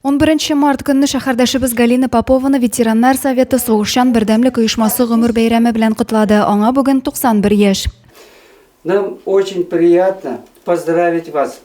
Унберенче март көнне шәһәрдәшебез Галина Попованы ветераннар советы Сугышчан бердәмлек оешмасы гомер бәйрәме белән котлады. Аңа бүген 91 яшь. Нам очень приятно поздравить вас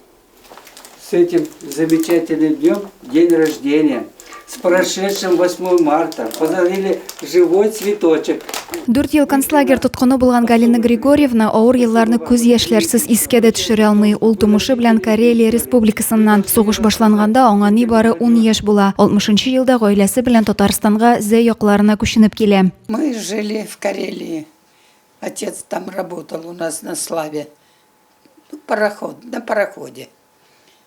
с этим замечательным днем, день рождения, с прошедшим 8 марта. Поздравили Живой цветочек. Дүрт ел концлагерь тоткыны булган Галина Григорьевна авыр елларны күз яшьләрсез искә дә төшерә алмый. Ул тумышы белән Карелия республикасыннан. Сугыш башланганда аңа нибары ун яшь була. Алтмышынчы елда гаиләсе белән Татарстанга, Зәй якларына күченеп килә. Мы жили в Карелии. Отец там работал у нас на славе. Пароход, на пароходе.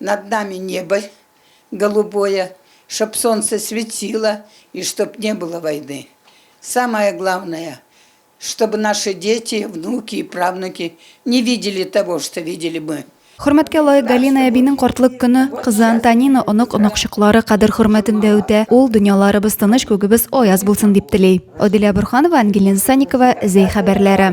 Над нами небо голубое Чтоб солнце светило И чтоб не было войны Самое главное Чтобы наши дети внуки и правнуки Не видели того что видели мы. Хөрмәткә лаек Галина әбинең картлык көне, кызы Антонина, онык-оныкчыклары кадер-хөрмәтендә үтә. Ул, дөньяларыбыз тыныч, күгебез аяз булсын, дип тели. Аделя Борханова, Ангелина Санникова, Зәй хәбәрләре.